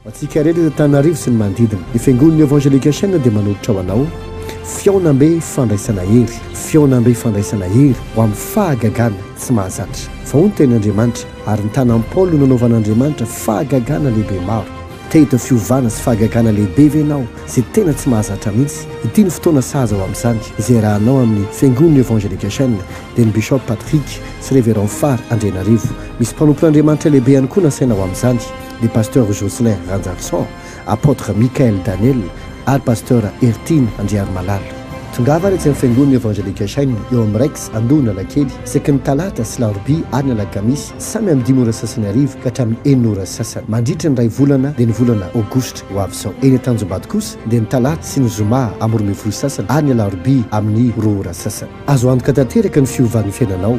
Ho antsika rehetra eto Antananarivo sy ny manodidina, ny Fiangonan'ny Evangelika Sheng dia manolotra ho anao fihaonambe fandraisana hery, fihaonambe fandraisana hery ho amin'ny fahagagana tsy mahazatra. Fa hoy ny Tenin'Andriamanitra, Ary ny tanan'i Paoly no nanaovan'Andriamanitra fahagagana lehibe maro. Te hita fiovana sy fahagagana lehibe ve ianao izay tena tsy mahazatra mihitsy? Ity no fotoana sahaza ho amin'izany, izay iarahanao amin'ny Fiangonan'ny Evangelika Sheng dia ny Bishop Patrick sy Reverend Fary Andrianarivo. Misy mpanompon'Andriamanitra lehibe ihany koa nasaina ho amin'izany. ny Pasteur Jocelyn Ranjarisoa, Apotre Michael Daniel ary Pasteur Hertine Andriarimalala. Tongava ary etsy amin'ny Fiangonana Evangelika Shine eo amin'ny Rex, Andohanalakely, isaky ny talata sy larobia ary ny alakamisy, samy amin'ny dimy ora sasany hariva ka hatramin'ny enina ora sasany, mandritra ny iray volana dia ny volana aogositra ho avy izao. Eny Antanjombady kosa dia ny talata sy ny zoma amin'ny roa ambin'ny folo sasany ary ny alarobia amin'ny roa ora sasany. Azo antoka tanteraka ny fiovan'ny fiainanao.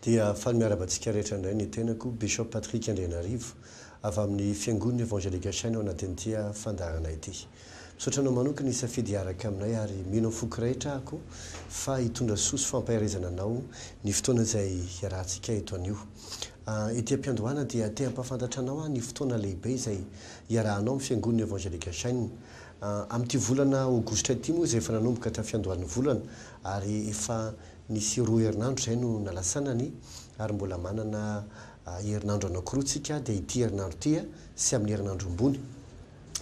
Dia faly miarahaba antsika rehetra indray ny tenako, Bishop Patrick Andrianarivo, avy amin'ny Fiangon'ny Evangelika Shine ao anatin'ity fandaharana ity. Misaotra anao manokana nisafidy hiaraka aminay ary mino amin'ny foko rehetra aho fa hitondra soa sy fampaherezana anao ny fotoana izay hiarahantsika eto anio. Ety am-piandohana dia te hampahafantatra anao aho ny fotoana lehibe izay hiarahanao amin'ny Fiangon'ny Evangelika Shine. Amin'ity volana Aogositra ity moa izay efa nanomboka hatramin'ny fiandohan'ny volana ary efa Nisy roa herinandro izay no nalasanany ary mbola manana herinandro anankiroa tsika dia ity herinandro ity sy amin'ny herinandro ambony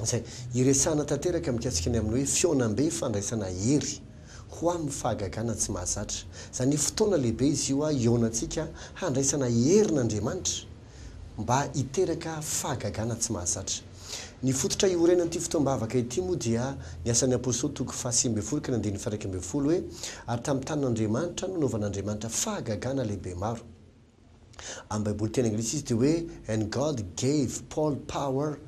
izay hiresahana tanteraka mikasika ny amin'ny hoe fihaonambe fandraisana hery ho amin'ny fahagagana tsy mahazatra. Izany hoe fotoana lehibe izy io hihaonantsika handraisana herin' Andriamanitra mba hiteraka fahagagana tsy mahazatra. Ny fototra iorenan'ity fotoam-bavaka ity moa dia ny Asan'ny Apostoly toko fahasivy ambin'ny folo ka ny andininy faha-iraika ambin'ny folo hoe, Ary tamin'ny tanin'Andriamanitra nanaovan'Andriamanitra fahagagana lehibe maro. Amin'ny Baiboly teny anglisy izy dia hoe And God gave Paul power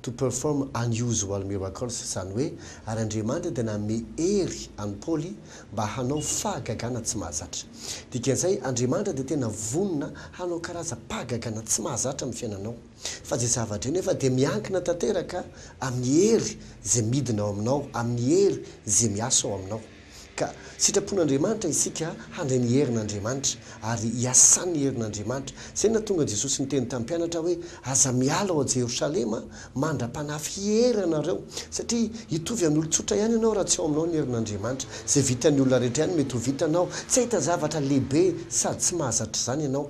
to perform unusual miracles, izany hoe, ary Andriamanitra dia nanome hery an'i Paoly mba hanao fahagagana tsy mahazatra. Dikan'izay, Andriamanitra dia tena vonona hanao karazam-pahagagana tsy mahazatra amin'ny fiainanao. Fa izay zava-drey nefa dia miankina tanteraka amin'ny hery izay midina ao aminao, amin'ny hery izay miasa ao aminao. Ka sitrapon'Andriamanitra isika handray ny herin'Andriamanitra, ary iasan'ny herin'Andriamanitra. Izay no nahatonga Jesosy niteny tamin'ny mpianatra hoe, Aza miala ao Jerosalema mandra-panahy fiery ianareo, satria hitovy an'olon-tsotra ihany ianao raha tsy ao aminao ny herin'Andriamanitra. Izay vitan'ny olona rehetra ihany mety ho vitanao. Tsy hahita zavatra lehibe sady tsy mahazatra izany ianao.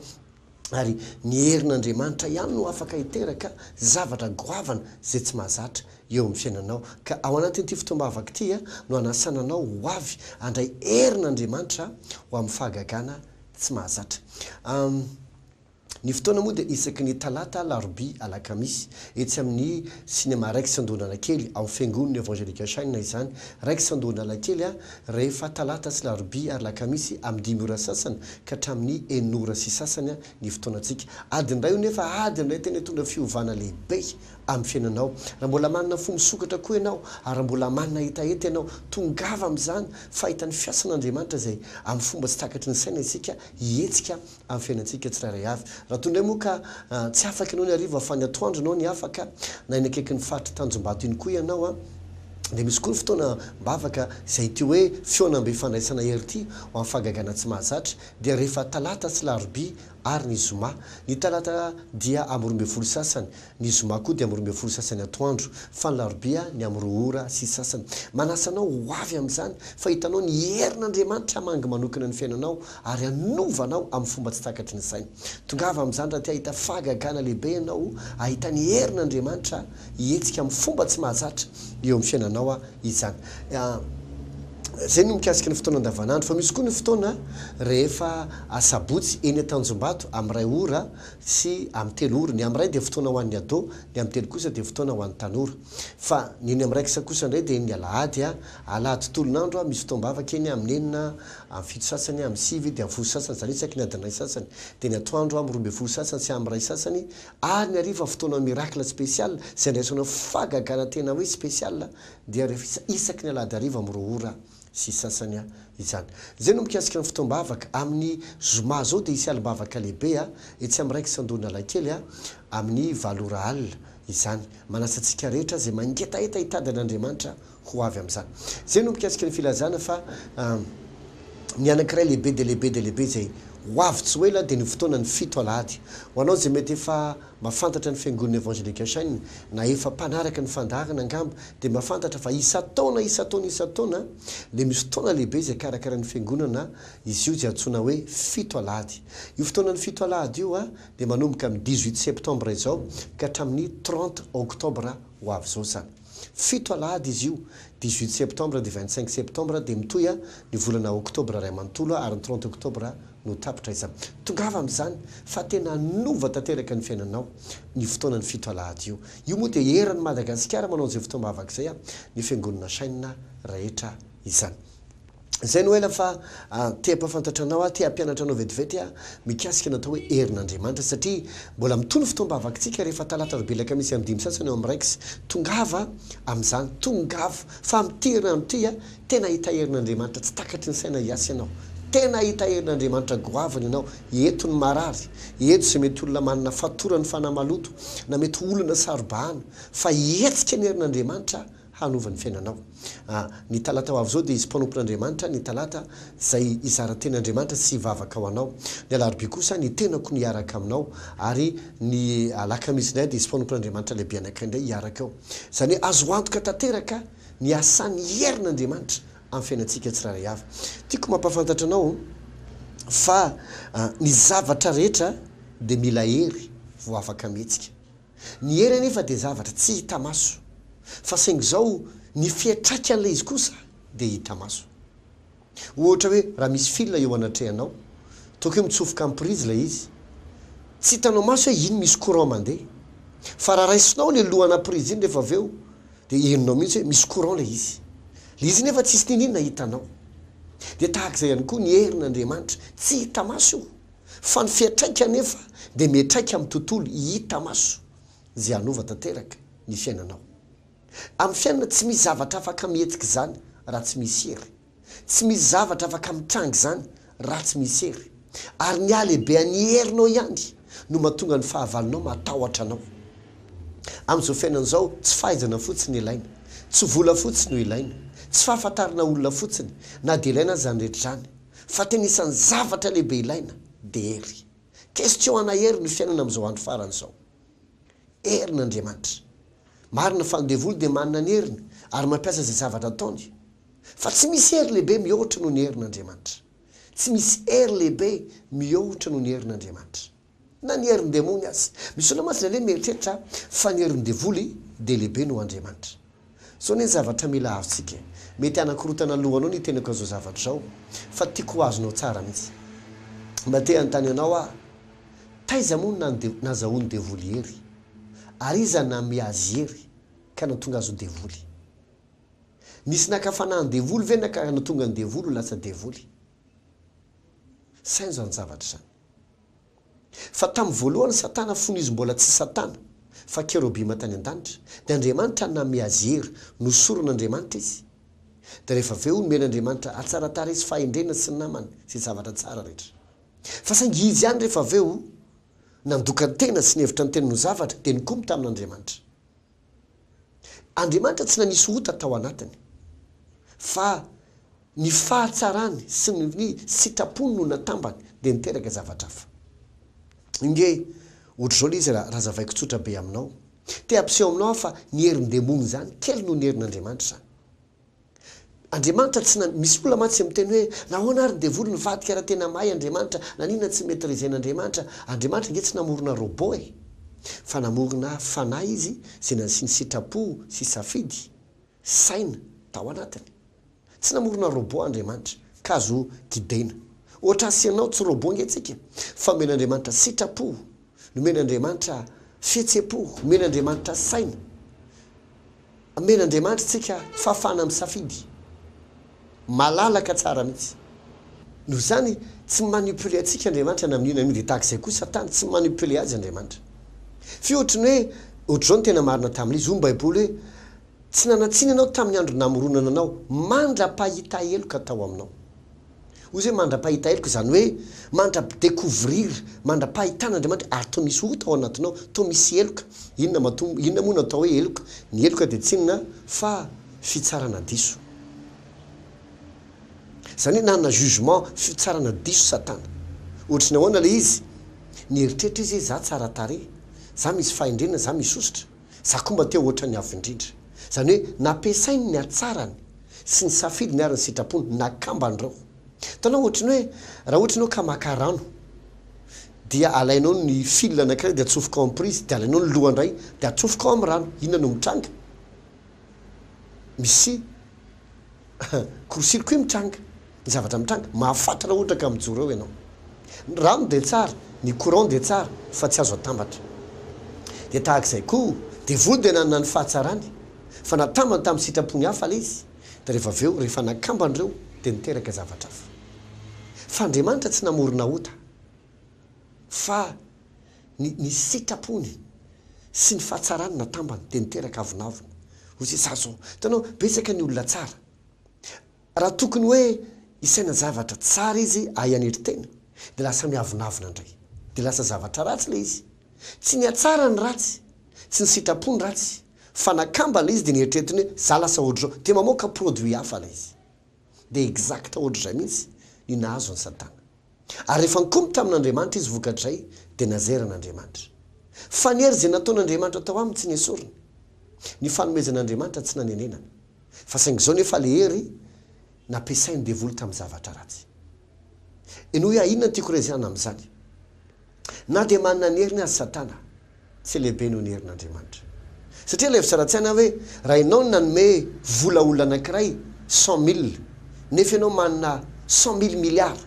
ary ny herin' Andriamanitra ihany no afaka hiteraka zavatra goavana izay tsy mahazatra eo amin'ny fiainanao. Ka ao anatin'ity fotoam-bavaka ity no hanasana anao ho avy handray herin' Andriamanitra ho amin'ny fahagagana tsy mahazatra. Ny fotoana moa dia isaky ny talata, alarobia, alakamisy, etsy amin'ny Cinema Rex Andohan'Anakely, ao amin'ny Fiangonana Evangelical Shine izany, Rex Andohan'Anakely, Rehefa talata sy larobia ary lakamisy amin'ny dimy ora sasany ka hatramin'ny enina ora sy sasany ny fotoanantsika. Adiny iray io nefa adiny iray tena hitondra fiovana lehibe amin'ny fiainanao. Raha mbola manana fo misokatra koa ianao ary raha mbola manana hetaheta ianao, tongava amin'izany fa hita ny fiasan'Andriamanitra izay amin'ny fomba tsy takatry ny saina isika hihetsika amin'ny fiainantsika tsirairay avy. Raha toy indray moa ka tsy afaka ianao ny hariva fa ny atoandro ianao ny afaka, na eny akaikin'ny faritry Tanjombato iny koa ianao, dia misy koa ny fotoana am-bavaka izay ity hoe fihaonambe fandraisana hery ity ho amin'ny fahagagana tsy mahazatra dia rehefa talata sy larobia ary ny zoma. Ny talata dia amin'ny roa ambin'ny folo sasany Ny zoma koa dia amin'ny roa ambin'ny folo sasany atoandro, fa ny larobia ny amin'ny roa ora sy sasany. Manasa anao ho avy amin'izany, fa hitanao ny herin'Andriamanitra hamangy manokana ny fiainanao ary hanova anao amin'ny fomba tsy takatry ny saina. Tongava amin'izany raha te hahita fahagagana lehibe ianao hahita ny herin'Andriamanitra hihetsika amin'ny fomba tsy mahazatra eo amin'ny fiainanao izany. Izay no mikasika ny fotoana andavanandro, fa misy koa ny fotoana rehefa asabotsy eny Tanjombato amin'ny iray ora sy amin'ny telo ora. Ny amin'ny iray dia fotoana ho an'ny ado, ny amin'ny telo kosa dia fotoana ho an'ny tanora. Fa ny eny amin'ny raiksa kosa indray dia eny ny alahady, alahady tolon'andro, misy fotoam-bavaka eny amin'ny enina, amin'ny fito sasany, amin'ny sivy dia amin'ny folo sasany, izany hoe isaky ny adin'iray sasany. Dia ny atoandro amin'ny roa ambin'ny folo sasany sy amin'ny iray sasany, ary ny hariva fotoana miracle spécial, izay andraisana fahagagana tena hoe spécial, dia rehefa isaky ny alahady hariva amin'ny roa ora. sy sasany a izany. Izay no mikasika ny fotoam-bavaka. Amin'ny zoma izao dia hisy alim-bavaka lehibe a etsy amin'ny Raiky Sandon'Analakely a amin'ny valo ora alina izany. Manasa antsika rehetra izay mangetaheta hitady an'Andriamanitra ho avy amin'izany. Izay no mikasika ny filazana fa ny anankiray lehibe dia lehibe dia lehibe izay ho avy tsy ho ela dia ny fotoanan'ny fito alahady. Ho anao izay mety efa. Mahafantatra ny Fiangonana Evangelical Shine na efa mpanaraka ny fandaharana angamba dia mahafantatra fa isan-taona isan-taona isan-taona dia misy fotoana lehibe izay karakarain'ny Fiangonana izy io izay antsoina hoe fito alahady. Io fotoanan'ny fito alahady io dia manomboka amin'ny dix-huit septembre izao ka hatramin'ny trente octobre ho avy izao izany. Fito alahady izy io, dix-huit septembre dia vingt-cinq septembre dia mitohy an, ny volana octobre iray manontolo ary ny trente octobre no tapitra izany. Tongava amin'izany fa tena hanova tanteraka ny fiainanao ny fotoanan'ny fito alahady io. Io moa dia eran'i Madagasikara manao izay fotoam-bavaka izay an, ny fiangonana Chaîne rehetra izany. Zay no ela fa te ampafantatra anao aho, te hampianatra anao vetivety aho mikasika ny atao hoe herin'Andriamanitra satria mbola mitohy ny fotoam-bavakitsika rehefa talata roa belaka misy andininy sasany ao amin'ny Rex. Tongava amin'izany, tongava fa amin'ity herinandro ity a, tena hahita herin'Andriamanitra tsy takatry ny saina hiasa ianao, tena hahita herin'Andriamanitra goavana ianao, eto ny marary, eto izay mety olona manana fatoran'ny fanahy maloto na mety olona saro-bahana fa hihetsika ny herin'Andriamanitra hanova ny fiainanao. A Ny talata ho avy izao dia hisy mpanompon'Andriamanitra ny talata izay hizara teny Andriamanitra sy hivavaka ho anao. Ny alarobia kosa ny tenako no hiaraka aminao ary ny alakamisy indray dia hisy mpanompon'Andriamanitra lehibe anankiray indray hiaraka ao. Izany hoe azo antoka tanteraka ny hasan'ny herin'Andriamanitra amin'ny fiainantsika tsirairay avy. Tiako mampahafantatra anao fa ny zavatra rehetra dia mila hery vao afaka mihetsika. Ny hery anefa dia zavatra tsy hita maso, fa saingy izao ny fiantraikan'ilay izy kosa dia hita maso. Ohatra hoe raha misy fil eo anatrehanao, toa koa mitsofoka amin'ny prise ilay izy, tsy hitanao maso hoe iny misy courant mandeha, fa raha raisinao ilay lohana prise iny rehefa avy eo dia henonao mihitsy hoe misy courant ilay izy. Ilay izy nefa tsisy niniana hitanao. Dia tahaka izay ihany koa ny herin'Andriamanitra, tsy hita maso io, fa ny fiantraika anefa dia miantraika amin'ny tontolo hita maso izay hanova tanteraka ny fiainanao. Amin'ny fiainana tsy misy zavatra afaka mihetsika izany raha tsy misy hery. Tsy misy zavatra afaka mitranga izany raha tsy misy hery. Ary ny halehibehan'ny herinao ihany no mahatonga ny fahavalonao mahatahotra anao. Amin'izao fiainana izao tsy fahaizana fotsiny no ilaina, tsy vola fotsiny no ilaina, tsy fahafantarana olona fotsiny na dia ilaina aza izany rehetra izany, Fa tena isan'ny zavatra lehibe ilaina dia hery. Question ana hery ny fiainana amin'izao andro farany izao. Hery ny Andriamanitra. Marina fa ny devoly dia manana ny heriny ary mampiasa izay zavatra ataony. Fa tsy misy hery lehibe mihoatra noho ny herin'Andriamanitra. Tsy misy hery lehibe mihoatra noho ny herin'Andriamanitra. na ny herin-demony aza. Misy olona mantsy nale mieritreritra fa ny herin-devoly dia lehibe noho Andriamanitra. Zao anie ny zavatra mila azontsika e! Mety hanakorotana lohanao ny tenako an'izao zavatra izao fa tiako ho azonao tsara mihitsy. Mba te hanontany anao aho, taiza moa no nazahoan'ny devoly hery? Ary iza nanome azy hery ka nahatonga azy ho devoly? Nisy naka fanahin-devoly ve na ka nahatonga ny devoly ho lasa devoly? Saino izany zavatra izany. Fa tamin'ny voalohany Satana fony izy mbola tsy Satana fa kerobima tany an-danitra, dia Andriamanitra name azy hery, nosoron'Andriamanitra izy. Dia rehefa avy eo nomen'Andriamanitra hatsaratara izy, fahendrena sy namana izay zavatra tsara rehetra. Fa saingy izy ihany rehefa avy eo nandoka ny tena sy nihevitra ny tena ho zavatra dia nikomy tamin'Andriamanitra. Andriamanitra tsy nanisy ota tao anatiny, fa ny fahatsarany sy ny ny sitrapony no natambany dia niteraka zavatra hafa. Inge, ohatr'izao ilay izy raha zavaiko tsotra be aminao. Te hampiseho aminao aho fa ny herin-demony izany kely noho ny herin'Andriamanitra izany. Andriamanitra tsy na misy olona mantsy miteny hoe nahoana ary ny devoly nivadika raha tena mahay Andriamanitra naninona tsy maitriser-ny Andriamanitra Andriamanitra ange tsy namorona robot e fa namorona fanahy izy izay nasiany sitrapo sy safidy saina tao anatiny tsy namorona robot Andriamanitra ka azo guider-na ohatra asianao tsy robot ange tsika fa omen'Andriamanitra sitrapo Nomen'Andriamanitra fihetsem-po, omen'Andriamanitra saina, omen'Andriamanitra antsika fahafahana misafidy, malalaka tsara mihitsy. Noho izany, tsy manipuler antsika Andriamanitra na amin'io na amin'io, dia tahaka izay koa Satana, tsy manipuler azy Andriamanitra. F'io ohatry ny hoe, ohatry izao no tena marina tamin'izy, hoy ny Baiboly hoe, Tsy nanan-tsiny ianao tamin'ny andro namoronana anao, mandra-pahita heloka tao aminao. Hoy izay mandra-pahita heloka, izany hoe mandra-découvrir, mandra-pahitana Andriamanitra, ary toa misy ota ao anatinao, toa misy heloka. Inona matoa, inona moa no atao hoe heloka? Ny heloka dia tsy inona fa fitsarana diso. Izany hoe nanana jugement, fitsarana diso Satana. Ohatry ny ahoana ilay izy? Nieritreritra izy hoe, 'Izaho tsara tarehy. Izaho misy fahendrena. Izaho misosotra. Za koa mba te ho ohatran'ny Avo Indrindra. Izany hoe nampiasainy ny hatsarany sy ny safidiny ary ny sitrapony nakamba an'ireo. Hitanao, ohatry ny hoe raha ohatra ianao ka maka rano dia alainao ny fil anankiray dia atsofoka ao amin'ny prise dia alainao ny loha indray dia atsofoka ao amin'ny rano, inona no mitranga? Misy. Korosilo koa mitranga. Ny zavatra mitranga. Mahafaty raha ohatra ka mijoro eo ianao. Ny rano dia tsara, ny courant dia tsara fa tsy azo atambatra. Dia tahaka izay koa, devoly dia nanana ny fahatsarany fa natambany tamin'ny sitrapony hafa ilay izy, dia rehefa avy eo, rehefa nakambany ireo dia niteraka zavatra hafa. Fa Andriamanitra tsy namorona ota. fa ny ny sitrapony sy ny fahatsarany natambany dia niteraka avonavona hoy zay za zao hitanao betsaka ny olona tsara raha tokony hoe hisaina zavatra tsara izy ahay hanery tena dia lasa miavonavona indray dia lasa zavatra ratsy ilay izy tsy nihatsara ny ratsy tsy ny sitrapo ny ratsy fa nakamba ilay izy dia neritreritiny hoe za lasa ohatr'izao dia mamoaka produit hafa ilay izy dia exact ohatr'izay mihitsy ny nahazo an'i Satana. Ary rehefa nikomy tamin'Andriamanitra izy vokatr'izay dia nazera an'Andriamanitra. Faniry izay nataon'Andriamanitra tao aminy tsy nesoriny. Ny fanomezan'Andriamanitra tsy nanenenana. Fa saingy izao nefa ilay hery nampiasain'ny devoly tamin'ny zavatra ratsy. Henoy ahy inona no tiako rezahina amin'izany. Na dia manana ny heriny aza Satana, tsy lehibe noho ny herin'Andriamanitra. Satria ilay fizarantsaina hoe raha ianao no nanome vola olona anankiray cent mille nefa ianao manana cent mille milliards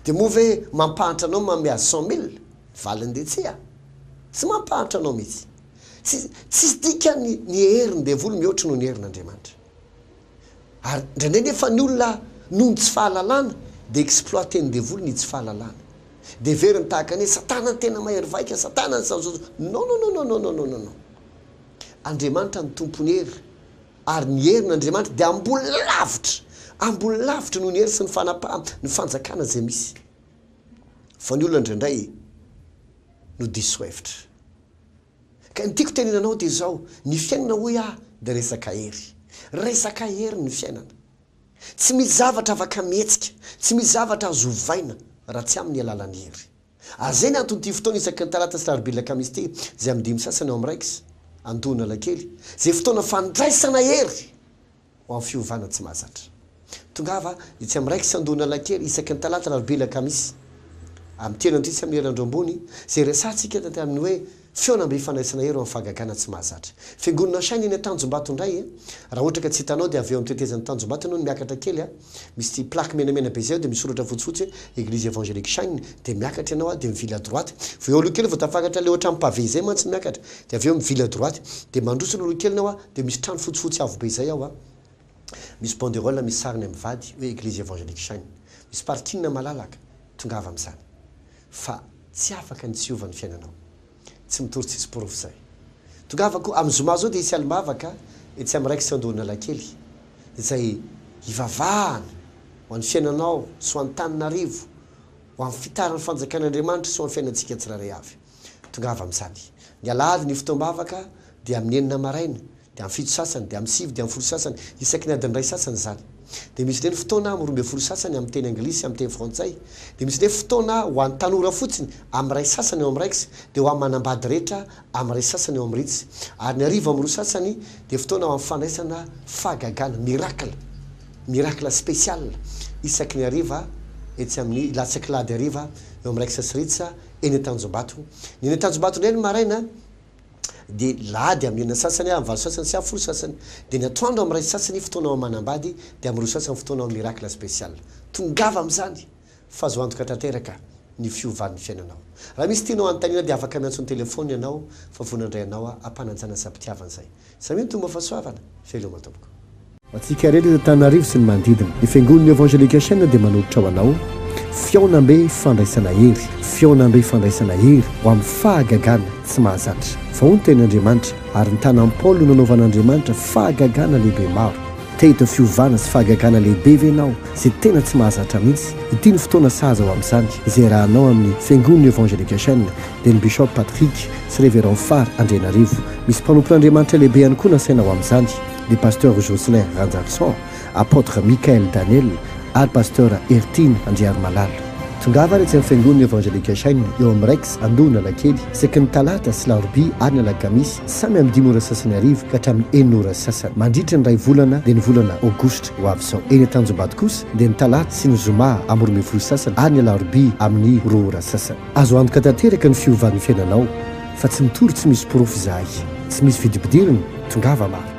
dia moa ve mampahantra anao manome azy cent mille? Ny valiny dia tsia. Tsy mampahantra anao mihitsy. Tsy, tsisy dikany ny herin'ny devoly mihoatra noho ny herin'Andriamanitra. Ary indraindray nefa ny olona noho ny tsy fahalalana dia exploiten'ny devoly ny tsy fahalalana. Dia heveriny tahaka ny hoe Satana no tena mahery vaika, Satana no sao sao. Non non non non non non non. Andriamanitra no tompon'ny hery ary ny herin' Andriamanitra dia ambony lavitra, ambony lavitra noho ny hery sy ny fanapahana, ny fanjakana izay misy. Fa ny olona indraindray no diso hevitra. Ka ny tiako tenena anao dia izao, ny fiainana hoy aho dia resaka hery. Resaka hery ny fiainana. Tsy misy zavatra afaka mihetsika, tsy misy zavatra azo ovaina raha tsy amin'ny alalan'ny hery. Ary izay no anton'ity fotoana isaky ny talata sy larobia lakamisy ity, izay amin'ny dimy sasany ao amin'ny raiksa, Antohonalakely, izay fotoana fandraisana hery! ho amin'ny fiovana tsy mahazatra. Tongava etsy amin'ny Rex Andohan'Analakely isaky ny Talata, Alarobia, Alakamisy amin'ny telo andraikitra amin'ny ora andro ambony izay resahantsika taty amin'ny hoe Fihaonambe Ifanaisana Hery ho amin'ny Fahagagana tsy mahazatra. Fiangonana Shine eny Antanjombato indray e! Raha ohatra ka tsy hitanao dia avy eo amin'ny tetezan'i Tanjombato ianao no miakatra kely a! Misy ity plaque menamena be izay ao dia misy soratra fotsifotsy hoe Eglise Evangelique Shine dia miakatra ianao a! dia mivily à droite vao eo aloha kely vao tafakatra ilay ohatran'ny pavé izay mantsy miakatra dia avy eo mivily à droite dia mandroso aloha kely ianao a! Dia misy trano fotsifotsy avo be izay ao a! Misy banderole misy sariny amin'ny vady hoe Eglise Evangelique Shine. Misy parking malalaka, tongava amin'izany. Fa tsy afaka ny tsy hiova ny fiainanao. Tsy mitory tsisy porofo izay. Tongava koa, amin'ny zoma izao dia hisy alim-bavaka etsy amin'ny Rex Andohan'Alakely, izay hivavahana ho an'ny fiainanao sy ho an'Antananarivo, ho amin'ny fitaran'ny fanjakan'Andriamanitra sy ho amin'ny fiainantsika tsirairay avy. Tongava amin'izany. Ny alahady ny fotoam-bavaka dia amin'ny enina maraina, dia amin'ny fito sasany, dia amin'ny sivy, dia amin'ny folo sasany, isaky ny adin'ny iray sasany izany. Dia misy indray ny fotoana amin'ny roa ambin'ny folo sasany amin'ny teny anglisy, amin'ny teny frantsay. Dia misy indray fotoana ho an'ny tanora fotsiny amin'ny iray sasany eo amin'ny raiks, dia ho amin'ny manambady rehetra amin'ny iray sasany eo amin'ny ritsy. Ary ny hariva amin'ny roa sasany dia fotoana ho amin'ny fandraisana fahagagana, miracle, miracle spécial, isaky ny hariva, etsy amin'ny latsak'alahady hariva, eo amin'ny raiksa sy ritsy, eny Antanjombato. Ny eny Antanjombato indray ny maraina dia lahady amin'ny enina sasany, amin'ny valo sasany sy amin'ny folo sasany. Dia ny atoandro amin'ny iray sasany fotoana ao Manambady dia amin'ny roa sasany fotoana ao Miracle Special. Tongava amin'izany fa azo antoka tanteraka ny fiovan'ny fiainanao. Raha misy tianao hanontaniana dia afaka miantso ny telefaonina ianao fa vonona indray ianao hampanajana sady mpitiavana izay. Samia mitombo amin'ny fahasoavana. Veloma tompoko. Ho antsika rehetra eto Antananarivo sy ny manodidina. Ny Fiangonan'ny Evangelika Shina dia manolotra ho anao fihaonambe fandraisana hery, fihaonambe fandraisana hery ho amin'ny fahagagana tsy mahazatra. Fa hoy ny Tenin'Andriamanitra, Ary ny tanan'i Paoly no nanaovan'Andriamanitra fahagagana lehibe maro. Te hita fiovana sy fahagagana lehibe ve ianao izay tena tsy mahazatra mihitsy? Ity no fotoana sahaza ho amin'izany, izay arahanao amin'ny Fiangonan'ny Evangelika Shina. dia ny Bishop Patrick sy Révérend Fary Andrianarivo. Misy mpanompon'Andriamanitra lehibe ihany koa nasaina ho amin'izany, ny Pasteur Jocelyn Ranjarisoa, Apotre Michael Daniel ary Pasteur Hertine Andriarimalala. Tongava ary etsy amin'ny Fiangonana Evangelique Shine eo amin'ny Rex Andohanalakely isaky ny Talata sy Larobia ary ny Alakamisy samy amin'ny dimy ora sasany hariva ka hatramin'ny enina ora sasany mandritra ny iray volana dia ny volana Aogositra ho avy izao. Eny Antanjombato kosa dia ny Talata sy ny Zoma amin'ny roa ambin'ny folo sasany ary ny Alarobia amin'ny roa ora sasany. Azo antoka tanteraka ny fiovan'ny fiainanao fa tsy mitory tsy misy porofo izahay. Tsy misy vidibidirina, tongava maro.